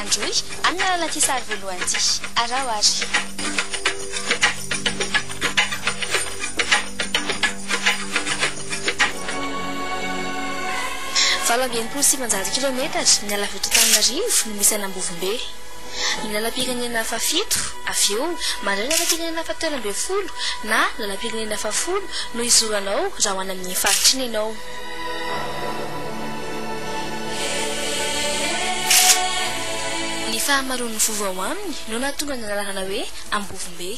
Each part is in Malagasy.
Androy, amin'ny alalan'ity sary voalohany ity. Araho ary. Valo amby enimpolo sy sivinjato kilaometatra miala avy eto Antananarivo no misy an'Ambovombe. Ny lalam-pirenena fahafito, avy eo, mandray ny lalam-pirenena fahatelo ambin'ny folo na lalam-pirenena fahafolo no izoranao raha ho any amin'iny faritra iny ianao. Ny fahamaroan'ny vovo ao aminy no nahatonga ny anarana hoe Ambovombe.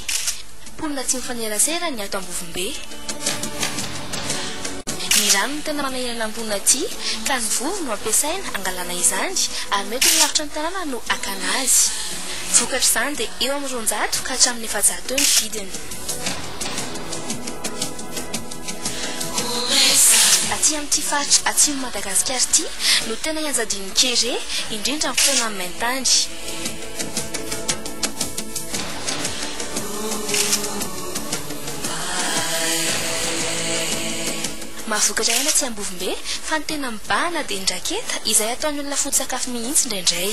Mponina tsy mifanerasera ny ato Ambovombe. Ny rano no tena manahirana ny mponina aty ka ny vovo no ampiasaina hangalana izany ary mety ho ny lavitra ny tanàna no hakana azy. Vokatr'izany dia eo amin'ny roanjato ka hatramin'ny efajato eo ny vidiny. Aty amin'ity faritra atsimon'i Madagasikara ity no tena ianjadian'ny kere, indrindra amin'ny fotoana amin'ny main-tany. Mahavokatra aina aty Ambovombe, fa ny tena mibahana dia ny raketa, izay ataon'ny olona foto-tsakafo mihitsy indraindray.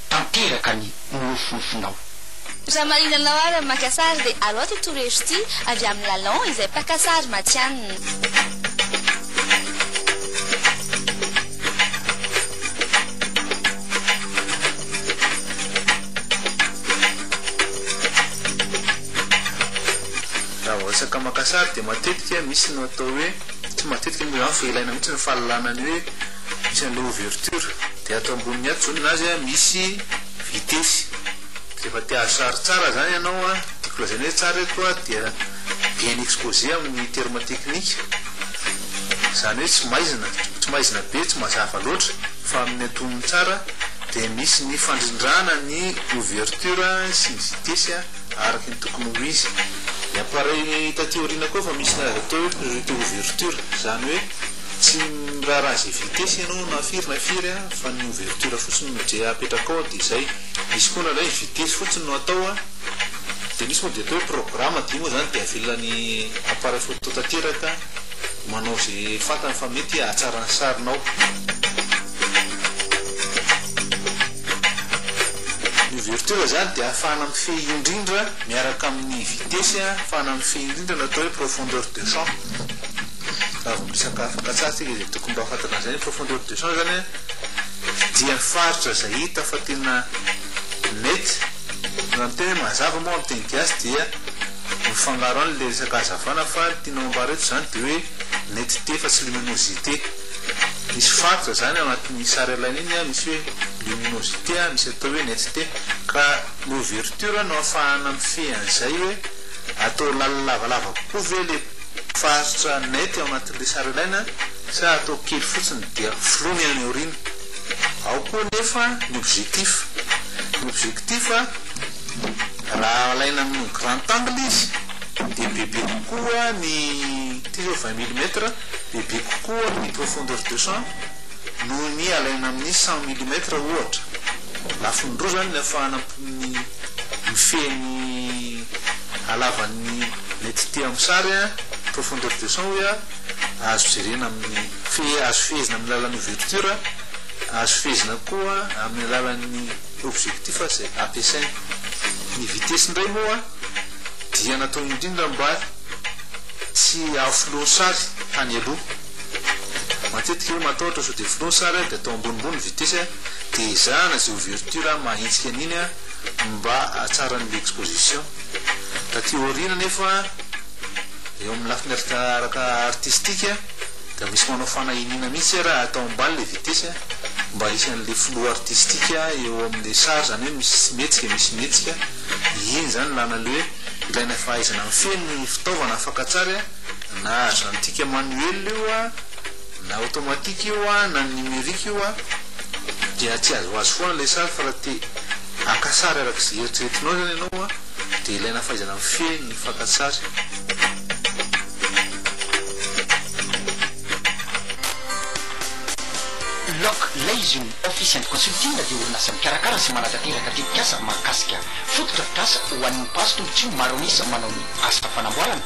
tanteraka ny nofinofinao. Raha marina anao ary amin'ny maka sary dia alao ity torohevitro ity avy amin'i Lalon izay mpaka sary matihanina. Raha vao resaka maka sary dia matetika misy ny atao hoe, tsy matetika moa izany fa ilaina mihitsy ny fahalalana ny hoe. misy an'ilay ouverture dia ato amboniny ato zonona azy a misy vitesy rehefa te azo sary tsara zany ianao a tiako lazaina hoe tsara eto a dia bien exposé amin'ny terme technique zany hoe tsy maizina tsy maizina be tsy mazava loatra fa amin'ny antonony tsara dia misy ny fandrindrana ny ouverture sy ny vitesy a araka ny tokony ho izy ny appareil taty aoriana koa efa misy ny azo atao hoe priorité ouverture zany hoe Tsy miraharaha izay vitesse ianao na firy na firy a, fa ny ouverture fotsiny no je apetrakao ao dia izay. Misy koa indraindray vitesse fotsiny no atao a, dia misy moa dia atao hoe programme dia io moa izany dia avelan'ny appareil photo tanteraka manao izay fantany fa mety hahatsara ny sarinao. Ny ouverture izany dia ahafahana mifehy indrindra miaraka amin'ny vitesse a, ahafahana mifehy indrindra ny atao hoe profondeur de champ. Raha vao misakafo frantsay tsika izay tokony mba fantatra an'izay ny profondeur de champ zany an, dia ny faritra izay hita fa tena mety, raha miteny hoe mazava moa amin'ny teny gasy dia mifangaro any ilay resaka hazavana fa ny tianao ambara eto izany dia hoe netteté fa tsy luminosité, misy faritra izany ao anatin'iny sary alaina iny an, misy hoe luminosité an, misy atao hoe netteté, ka ny ouverture no ahafahana mifehy an'izay hoe atao lalina lavalava kokoa ve ilay Faritra net ao anatin'ilay sary ilaina sa atao kely fotsiny dia flou-ny any aoriana? Ao koa anefa ny objectif. Ny objectif raha alaina amin'ny grand angle izy dia bebe kokoa ny, ity izao vingt millimètre, bebe kokoa ny profondeur de champ noho ny alaina amin'ny cent millimètre ohatra. Lafiny roa izany ny afahana Mifehy ny halavan'ny mety tia amin'ny sary profondeur de champ hoe azo jerena amin'ny fe- azo fehezina amin'ny alalan'ny ouverture, azo fehezina koa amin'ny alalan'ny objectif izay ampiasaina. Ny vitesse indray moa dia natao indrindra mba tsy hahafloan'ny sary tany aloha. Matetika hoe matahotra sao dia flou ny sary dia atao ambonimbony ny vitesse dia ezahana izay ouverture maha hetsika an'iny mba hahatsara ny exposition. Taty aoriana anefa eo amin'ny lafiny araka artistique dia misy manao fanahiniana mihitsy hoe raha atao ambany ilay vitesse mba hisy an'ilay flou artistique eo amin'ilay sary izany hoe misy tsy mihetsika misy mihetsika, iny izany ilana an'ilay hoe ilaina fahaizana mifehy ny fitaovana afaka hatsary. na ajantika manuel io na automatique io na numerique io dia tsy azoazo foana ilay sary fa raha te haka sary araka izay eritreretinao izany ianao dia ilaina fahaizana mifehy ny fakan-tsary Lock Leising Office and Consulting dia orinasa mikarakara sy manatanteraka tetikasa mahakasika fotodrafitrasa ho an'ny mpahazo tombontsoa maro an'isa manao ny asa fanamboarana,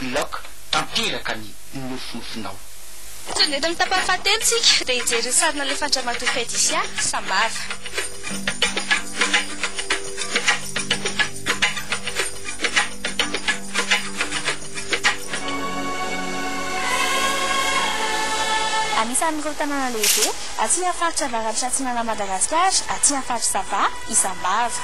Block tanteraka ny nofinofinao. Tonga eto amin'ny tapany fahatelo tsika dia hijery ny sary nalefan'Dramatoa Fedisia Sambava. Anisan'ireo tanàna lehibe aty amin'ny faritra avaratra atsinanan'i Madagasikara, aty amin'ny faritra Sava, isam-bava.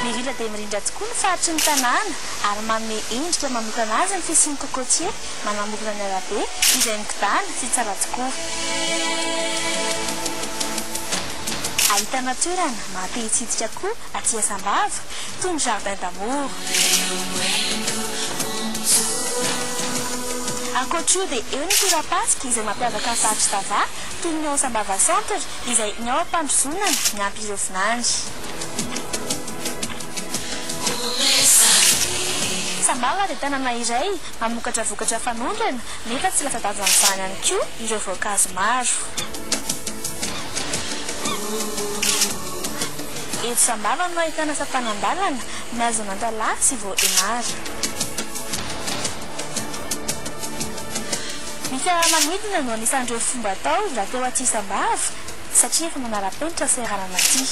Mirindra dia mirindra tokoa ny faritry ny tanàna ary manome endrika manokana azy ny fisian'ny cocotier manamorona ny arabe izay migodàna sy tsara tokoa. Ahitana toerana maha te hitsidika koa aty Asambava toy ny jardin d'amour. Ankoatr'io dia eo ny torapasika izay mampiavaka ny faritr'i Tava toy ny ao Sambava centre izay ny ao am-pandrozonana miampy ireo vinany. Sambava dia tanàna iray mamokatra vokatra fanondrana nefa tsy latsa-danja amin'izany ihany koa ireo voankazo maro. Eto Sambava no ahitana sampanan-dalana, maison Nantalaha sy Vohemar. Ny fiaramanidina no anisan'ireo fomba atao mba te ho aty isam-bava satria efa manara-penitra seranana aty.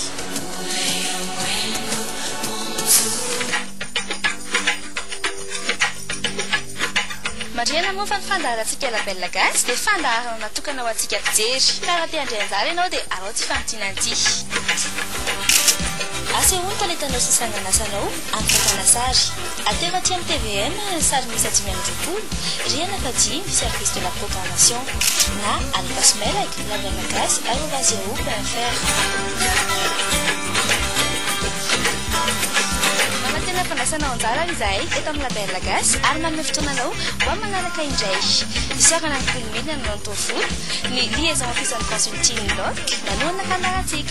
Marihana moa fa ny fandaharantsika La Belle Gasy dia fandaharana natokana ho antsika mpijery. Ka raha te handray anjara ianao dia arao ity fanampiana ity. Asehoy ny talentanao sy ny sangan'asanao. Ankatana sary. Atero aty amin'ny tvm ny sarimihisa dimy amby roapolo, rihana fahadimy, Service de la Programmation, na Alipas Melag, lavianagasy, arobase yahoo point fr. Manantena fandraisanao anjara izahay eto amin'ny Label Gasy ary manome fotoana anao ho amin'ny manaraka indray. Isaorana ny Mpino Mena nanao ny taovolo, ny Liaison Office and Consulting, LOC, nanohana fandaharantsika.